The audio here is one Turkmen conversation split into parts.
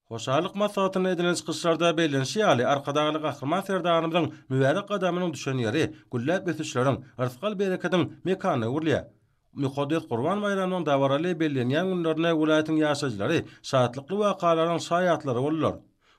Hoşallyk maslahatynda edilen çykyşlarda bellenişi ýaly, Arkadagly Gahryman Serdarymyzyň mübärek gadamynyň düşen ýeri gülläp ösüşleriň, yrsgal-berekediň mekanyna öwrülýär. Mukaddes Gurban baýramynyň dabaraly bellenýän günlerinde welaýatyň ýaşaýjylary şatlykly wakalaryň şaýatlary boldular.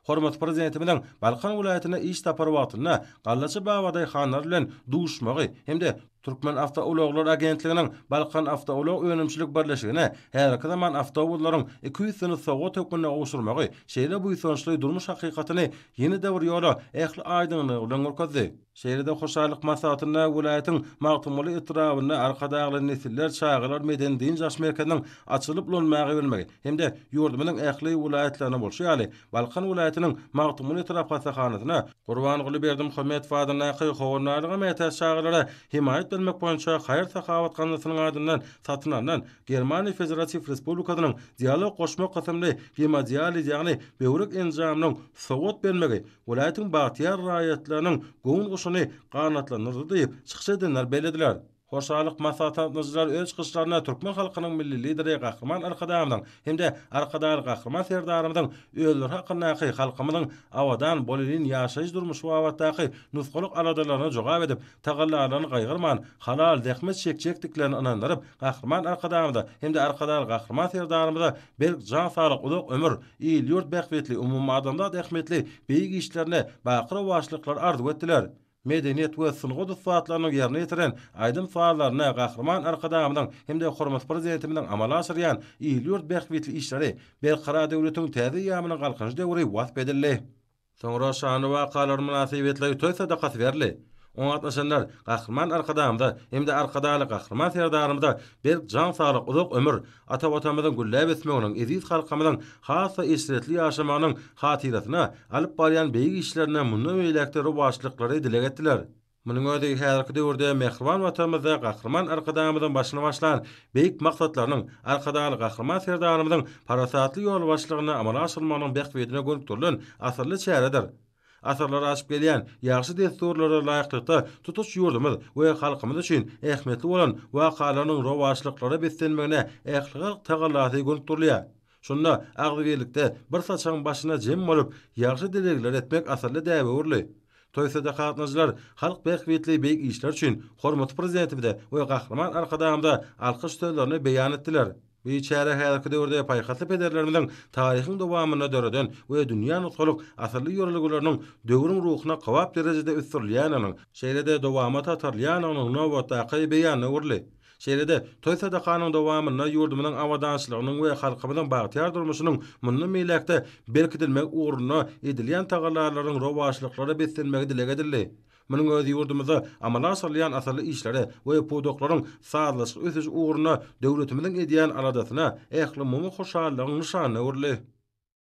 Hormatly Prezidentimiziň Balkan welaýatyna iş sapary wagtynda gallaçy babadaýhanlar bilen duşuşmagy hem-de Türkmenawtoulaglar agentliginiň Balkanawtoulag önümçilik birleşigine häzirki zaman awtobuslaryň iki üýsüni sowgat hökmünde gowşurmagy şeýle buýsançly durmuş hakykatyny ýene-de bir ýola ähli aýdyňlygy bilen görkezdi. Şeýle-de hoşallyk maslahatynda welaýatyň Magtymguly etrabynda Arkadagly nesiller çagalar medeni-dynç alyş merkeziniň açylyp ulanmaga berilmegi hem-de ýurdumyzyň ähli welaýatlaryna bolşy ýaly, Balkan welaýatynyň Magtymguly etrap hassahanasyna Gurbanguly Berdimuhamedow adyndaky Howandarlyga mätäç çagalara hemaýat bermek boýunça haýyr-sahawat gaznasynyň adyndan satyn alnan Germaniýa Federatiw Respublikasynyň Dialog goşmak kysymly gemodializ, ýagny böwrek enjamynyň sowgat bermegi welaýatyň bagtyýar raýatlarynyň göwün guşuny ganatlandyrdy diýip, çykyş edenler bellediler. Hoşallyk maslahatnamjylar öz çykyşlarynda türkmen halkynyň Milli Lideri Gahryman Arkadagymyzyň hem-de Arkadagly Gahryman Serdarymyzyň özleri hakyndaky, halkymyzyň abadan, bolelin ýaşaýyş-durmuşy babatdaky nusgalyk aladalaryna jogap edip, tagallalaryny gaýgyrman, halal zähmet çekjekdiklerine ynandyryp, Gahryman Arkadagymyza hem-de Arkadagly Gahryman Serdarymyza berk jan saglyk, uzak ömür, il-ýurt bähbitli, umumadamzat ähmiýetli beýik işlerinde baky rowaçlyklar arzuw etdiler. medeniýet we sungat ussatlarynyň ýerine ýetiren aýdym-sazlaryna Gahryman Arkadagymyzyň hem-de hormatly Prezidentimiziň amala aşyrýan il-ýurt bähbitli işleri, Berkarar döwletiň täze eýýamynyň Galkynyş döwri wasp edildi. Soňra şanly wakalar mynasybetli toý sadakasy berildi. Oňa gatnaşanlar Gahryman Arkadagymyza hem-de Arkadagly Gahryman Serdarymyza berk jan saglyk, uzak ömür, Ata Watanymyzyň gülläp ösmeginiň, eziz halkymyzyň has-da eşretli ýaşamagynyň hatyrasyna alyp barýan beýik işlerine mundan beýläk-de rowaçlyklary dileg etdiler. Munuň özi häzirki döwürde mähriban Watanymyzda Gahryman Arkadagymyzyň başyny başlan beýik maksatlarynyň Arkadagly Gahryman Serdarymyzyň parasatly ýolbaşçylygynda amala aşyrylmagynyň bähbidine gönükdirilen asylly çäredir. Asyrlar aşyp gelýän ýagşy dessurlara laýyklykda tutuş ýurdumyz we halkymyz üçin ähmiýetli bolan wakalarynyň rowaçlyklara beslenmegine ählihalk tagallasy gönüp durulýar. Şunda agzybirlikde bir saçagyň başyna jem bolup, ýagşy dilegleri etmek asylly däbe öwrüldi. Toý-sada gatnaşyjylar halk bähbitli beýik işler üçin hormatly Prezidentimize we Gahryman Arkadagymyza alkyş sözlerini beýan etdiler. Bu çäre häzirki döwürde paýhasly pederlerimiziň taryhyň dowamynda döreden we dünýä nusgalyk asylly ýörelgeleriniň döwrüň ruhuna kybap derejede ösdürilýändiginiň, şeýle-de dowamata atarylýandygynyň nobatdaky beýanyna öwrüldi. Şeýle-de, toý-sadakanyň dowamynda ýurdumyzyň abadançylygynyň we halkymyzyň bagtyýar durmuşynyň mundan beýläk-de berkidilmegi ugrunda edilýän tagallalaryň rowaçlyklara beslenmegi dileg edildi. Munuň özi ýurdumyzda amala aşyrylýan asylly işlere we pudaklaryň sazlaşykly ösüşi ugrunda döwletimiziň edýän aladasyna, ählumumy hoşallygyň nyşanyna öwrüldi.